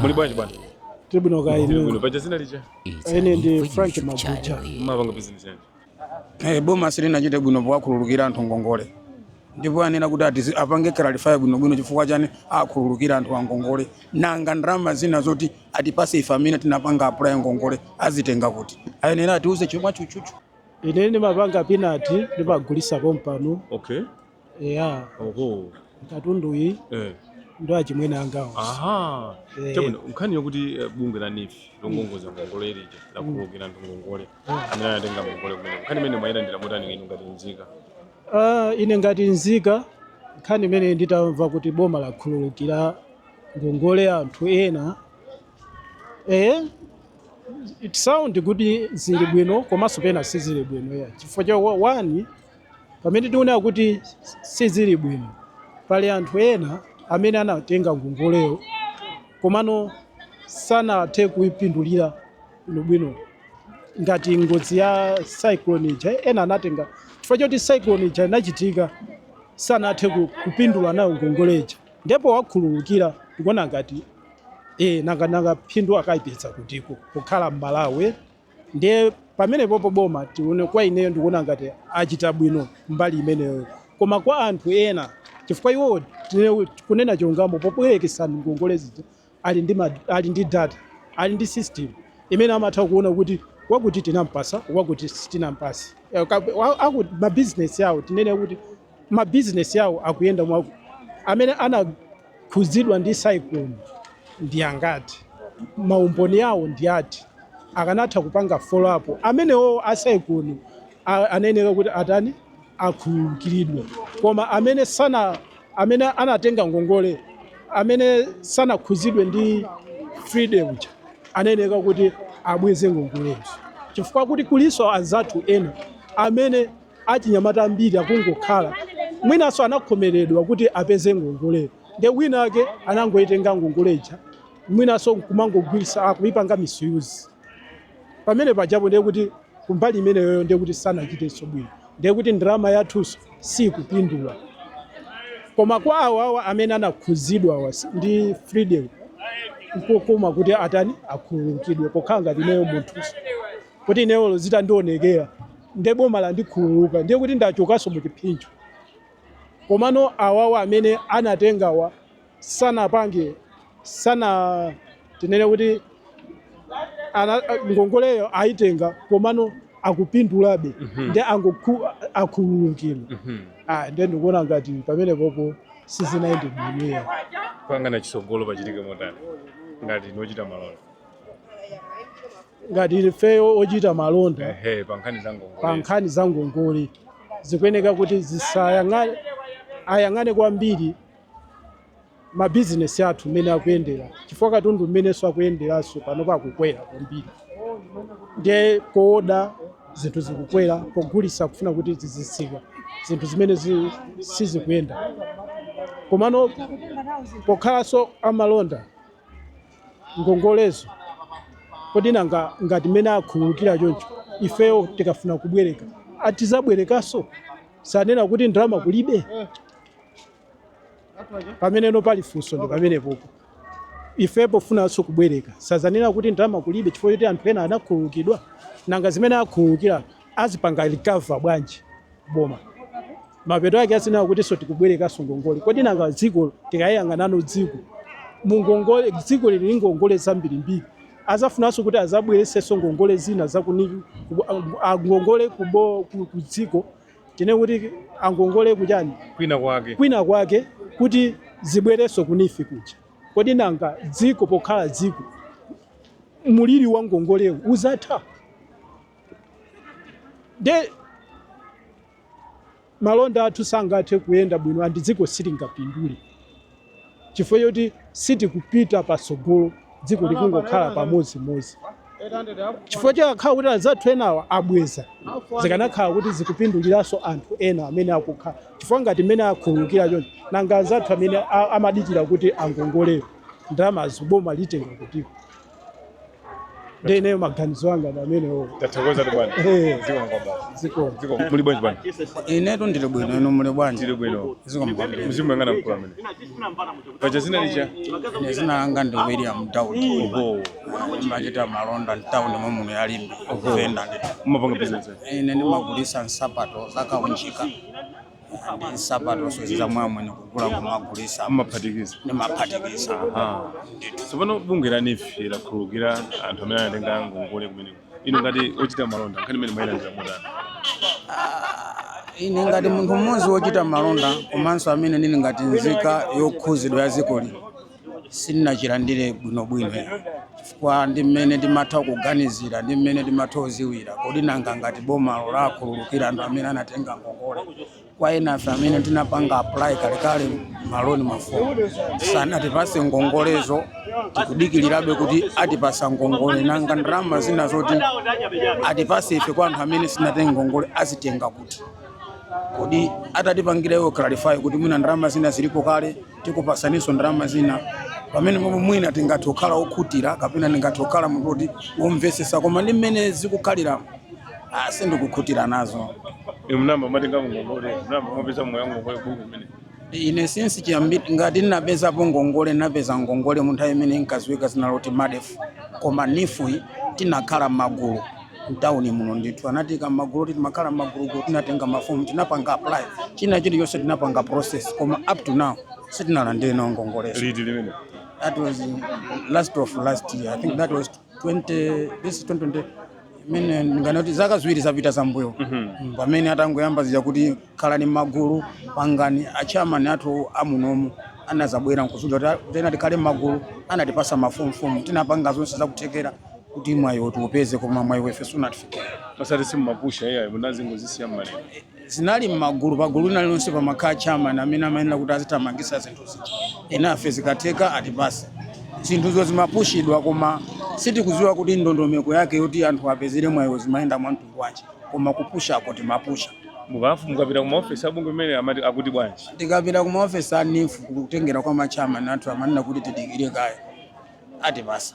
muli bwanji bwana tili bwino kaya inu tili bwino paja zina lija ine ndi frank mabuja mmapanga bizinesi yanji Eh, boma silinachite bwino powakhululukira anthu ngongole ndipo anena kuti atizi- apange clarify bwinobwino chifukwa chani akhululukira anthu angongole nanga ndalama zina zoti atipase ife amene tinapanga apply ngongole azitenga kuti ayenera atiuze chomwe chuchuchu ine ndimapanga pinati ndimagulisa pompano okay eya oho katundu iyi eh. ndo achimwene angawo aha Eh. chabwino nkhani yokuti eh, bungwe la NEEF longongoza ngongole lija lakhululukira anthu ngongole amene anatenga ngongole kumene nkhani imene mwayilandira motani inu ngati nzika Ah, ine ngati nzika nkhani imene nditamva kuti boma lakhululukira ngongole anthu ena eh it sound kuti zili bwino komanso pena sizili bwino ya chifukwa cha wani Pamene tikuona kuti sizili bwino, pali anthu ena amene anatenga ngongoleyo komano sanathe kuipindulira bwinobwino ngati ngozi ya cyclone ija ena anatenga chifukwa choti cyclone ija inachitika sanathe ku- kupindula nayo ngongole ija ndipo powakhululukira ndikuona ngati e, nanga nanga phindu akaipeza kutiko pokhala m'malawi Ndiye pamenepopo boma tione, kwa ineyo ndikuona ngati achita bwino mbali imeneyoyo. Koma kwa anthu ena, chifukwa iwowo tine- kunena chilungamo pobwerekesa ngongole zija ali ndi, ma, ali ndi data ali ndi system imene amatha kuona kuti wakuti tinampasa wakuti sitinampase. Eh, ka- wa- aku- Mabizinesi awo tinene kuti mabizinesi awo akuyenda mwina amene ana khudzidwa ndi cyclone ndi angati? maumboni awo ndi ati? akanatha kupanga follow up amenewowo a cyclone anayeneka kuti atani akhululukiridwe koma amene sana amene anatenga ngongole amene sanakhudzidwe ndi Freddy uja anayeneka kuti abweze ngongolezo chifukwa kuti kulinso anzathu ena amene Achinyamata ambiri akungokhala, mwinanso anakhomeredwa kuti apeze ngongoleyo ndiye winawake anangoitenga ngongole ija mwinanso n'kumangogwiritsa, kuipanga misuse pamene pajapo ndiye kuti kumbali imeneyoyo ndiye kuti sanachitenso bwino, ndiye kuti ndalama yathunso siikupindula. Koma kwa awawa amene anakhudzidwawa ndi Freddy'yi n'kokoma kuti atani, akhululukidwe pokhala ngati ineyo munthunso, kuti ineyo olo zitandionekera. nde boma landikhululuka ndiye kuti ndachokanso muchiphinjo komano awawa amene anatengawa sanapange sana tinene kuti ana, ngongoleyo ayitenga komano akupindulabe mm -hmm. nde akhululukire mm -hmm. ah, nde ndikuona ngati pamenepopo sizinayende bwino poyang'ana chisogolo pachitike motani ngati inu ochita malonda ngati ifeyo ochita malonda ehe pa nkhani za ngongole pa nkhani za ngongole zikuyeneka kuti zisayang'ane ayang'ane kwambiri mabizinesi athu mmene akuyendera chifukwa katundu mmenenso akuyenderanso panopa akukwera kwambiri ndiye kooda zinthu zikukwera pogulisa kufuna kuti zizitsika zinthu zimene zi- sizikuyenda komano pokhalanso amalonda ngongolezo. Kodi nanga ngati mmene akhululukira choncho, ifeyo tikafuna kubwereka, a tidzabwerekanso? Sanena kuti ndalama kulibe? Pameneno pali funso ndi pamenepopo. Ife pofunanso kubwereka, sadzanena kuti ndalama kulibe chifukwa choti anthu ena anakhululukidwa? Nanga zimene akhululukira azipanga recover bwanji boma mapeto ake azinena kutinso tikubwerekanso ngongole kodi nanga dziko tikayang'anano dziko mungongole dziko lili ndi ngongole zambirimbiri azafunanso kuti azabweresenso ngongole zina zakuni ngongole kubo ku- ku dziko tinene kuti angongole kuchani kwina kwake kwina kwake kuti zibwerenso ku NEEF kuja kodi nanga dziko pokhala dziko muliri wa ngongolewu uzatha nde malonda athu sangathe kuyenda bwino andi dziko silingapindule chifukwa choti sitikupita patsogolo dziko likungokhala pamodzimodzi chifukwa chikakhala kuti anzathu enawa abweza zikanakhala kuti zikupinduliranso anthu ena amene akukhala chifukwa ngati mmene akhululukira choncho nanga anzathu amene a- amadikira kuti angongolewo ndalamazo boma litenga kutiko Ndiye ineyo maganizo anga ndi amenewo. Tathokozatu bwana. Eh. Zikomo kwambiri. Zikomo. Zikomo muli bwanji bwana? inetu ndili bwino inu muli bwanji Tili bwino. zikomo kwambiri Muzimuyang'ana mkulu amene. Paja zina lija. ine zina langa ndi william daudi Oho. ndimachita malonda mtawuni momuno ya limbe kuvenda ndithu Mumapanga business. ine ndimagulisa nsapato zakaunjika ndi nsapatonsozi za mwa amwenye kugula kumagulisa mumaphatikiza ndimaphatikiza Ah. tsopano bungwe la NEEF lakhululukira anthu amene anatenga ngongole kumeneko inu ngati ochita malonda nkhani imeneyi mwayilandira motani ine ngati munthu mmodzi wochita malonda komanso amene ndili ngati nzika yokhuzidwa ya dziko lino sindinachilandire bwinobwino chifukwa ndi mmene ndimatha kuganizira ndi mmene ndimatha kuziwira kodi nanga ngati boma lakhululukira anthu amene anatenga ngongole kwa enafe amene tinapanga apply kalekale maloni mafomu sanatipase ngongolezo tikudikirirabe kuti atipase ngongole nanga ndalama zina zoti atipase ife kwa anthu amene sitinatenge ngongole azitenga kuti kodi atatipangira iwo clarify kuti mwina ndalama zina zilipo kale tikupasaninso ndalama zina pamene pomwe mwina tingathe kukhala okhutira kapena ndingathe kukhala munthu woti womvetsetsa koma ndi mmene zikukhalira ah, sindikukhutira nazo Inu munayamba mwatenga ngongole, munayamba mwapeza mwayi wa ngongole ku bungwe limeneli. ine since chiyambire ngati ndinapezapo ngongole ndinapeza ngongole mu nthawi imene inkadziwika zina loti MADEF koma NEEF iyi tinakhala m'magulu mtauni muno ndithu anatiika mmagulu kuti timakhala mmagulumagulu tinatenga mafomu tinapanga apply china chilichonse tinapanga process koma up to now sitinalandire nawo ngongolezo liti limenelo that was last of last year i think that was 20 this is 2020 mene ndinganene kuti zaka ziwiri zapitazo mbuyo Mm, pamene atangoyamba zija kuti khalani mmagulu pangani achairman athu amunomu anazabwera nkuzatiuza kuti naye tikhale mmagulu anatipasa mafomu tinapanga zonse zakuthekera kuti mwayiwo tiupeze koma mwayi wo ife sunatifikire pakati simumapusha iyayi munazingozisiya mmalere zinali m'magulu pagulu lina lonse pamakhala chairman amene amayenera kuti azithamangisa zinthu zija enafe zikatheka atipase zinthuzo zimapushidwa koma sitikudziwa kuti ndondomeko yake yoti anthu apezere mwayiwo zimayenda mwa mtundu wanji koma kupushako timapusha mukafu mukapita ku maofesi abungwe limeneli amati akuti bwanji tikapita ku maofesi a NEEF kutengera kwa machairman athu amanena kuti tidikire kaye atipasa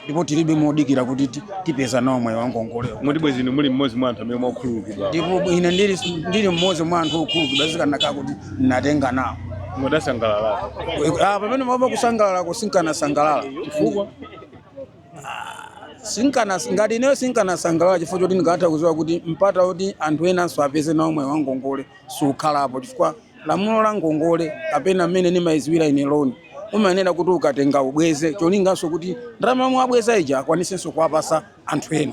ndipo tilibe m'modikira kuti ti- tipeza nawo mwayi wangongolewo moti bwezi inu muli mmodzi mwa anthu amene mwakhululukidwa ndipo ine ndili ndili mmodzi mwa anthu okhululukidwa zikanakhala kuti ndinatenga nawo mukadasangalala Ah, pamenepo mwina kusangalalako sinkanasangalala chifukwa sinkana ngati ineyo sinkanasangalala chifukwa choti ndikutha kuziwa kuti mpata woti anthu enanso apeze nawo mwayi wangongole sukhalapo chifukwa Lamulo la ngongole kapena mmene nimaiziwira ine loan umayenera kuti ukatenga ubweze cholinganso kuti ndalama yomwe wabweza ija akwanisenso kuwapasa anthu ena.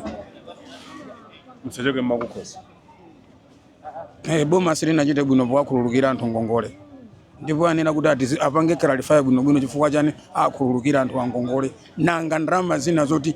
M'zachoke m'makukhosi. Eh, boma silinachite bwino powakhululukira anthu ngongole ndipo ayenera kuti ati zi- apange clarify bwinobwino chifukwa chani akhululukira anthu angongole nanga ndalama zina zoti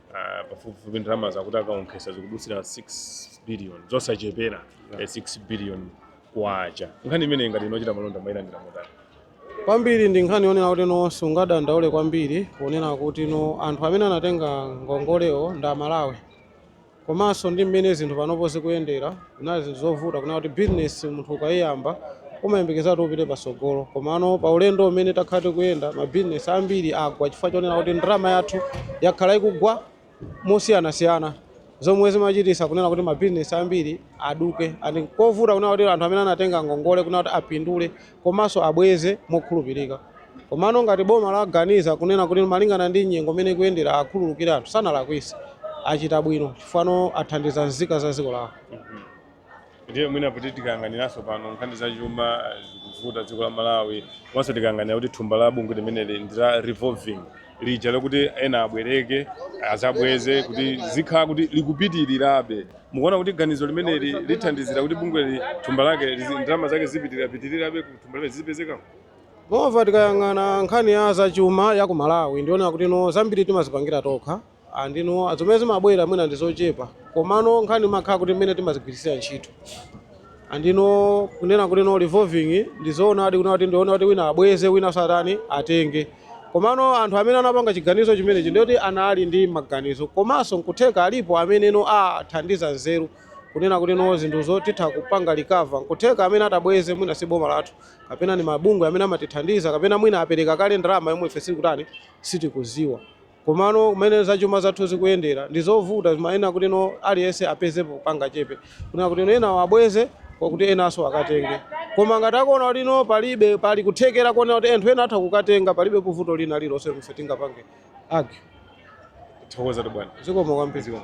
Ah, pafupifupi ndalama zakuti akaonkhesa zikudutsira 6 billion zosachepera eh, 6 billion kwacha nkhani imeneyi ngati inu ochita malonda mwailandira motani kwambiri ndi nkhani yonena kuti no sungadandaule kwambiri poonera kuti no anthu amene anatenga ngongolewo ndi amalawi komanso ndi mmene zinthu panopo zikuyendera Zinali zinthu zovuta kunena kuti business munthu ukaiyamba umayembekezera kuti upite patsogolo komano pa ulendo umene takhala tikuyenda ma business ambiri agwa chifukwa chonena kuti ndalama yathu yakhala ikugwa mosiyanasiyana zomwe zimachititsa kunena kuti ma business ambiri aduke and nkovuta kunena kuti anthu amene anatenga ngongole kunena kuti apindule komanso abweze mokhulupirika. Komano ngati boma laganiza kunena kuti malingana ndi nyengo imene ikuyendera akhululukire anthu, sanalakwise. Achita bwino chifukwa no athandiza nzika za dziko lawo. Ndiye mwina kuti tikayang'aniranso pano nkhani za chuma zikuvuta dziko la Malawi komanso tikayang'anira kuti thumba la bungwe limeneli ndi la revolving lija lokuti ena abwereke azabweze kuti zikhala kuti likupitirirabe mukuona kuti ganizo limeneli lithandizira kuti bungweli thumba lake lizi- ndalama zake zipitirirapitirirabe ku thumba limene zizipezekamo Mova tikayang'ana nkhani ya zachuma ya ku Malawi ndiona kuti no zambiri timazipangira tokha And you know zomwe zimabwera mwina ndi zochepa komano nkhani imakhala kuti mmene timazigwiritsira ntchito and you know kunena kuti no revolving ndi zoonadi kunena kuti ndiona kuti wina abweze wina satani atenge komano anthu amene anapanga chiganizo chimenechi ndi kuti anali ndi maganizo komanso nkutheka alipo amene no athandiza nzeru kunena kuti no zinthu zoti titha kupanga recover nkutheka amene atabweze mwina si boma lathu kapena ndi mabungwe amene amatithandiza kapena mwina apereka kale ndalama yomwe ife sitikutani sitikuziwa Komano mmene zachuma zathu zikuyendera ndi zovuta, zimayenera kuti no aliyense apezepo kangachepe kunena kuti no enawo abweze kuti enanso akatenge. Koma ngati akuona kuti no palibe, pali kuthekera konena kuti anthu ena atha kukatenga, palibepo vuto lina lililonse lomwe ife tingapange argue. Thokozatu bwana. Zikomo kwambiri. Zikomo.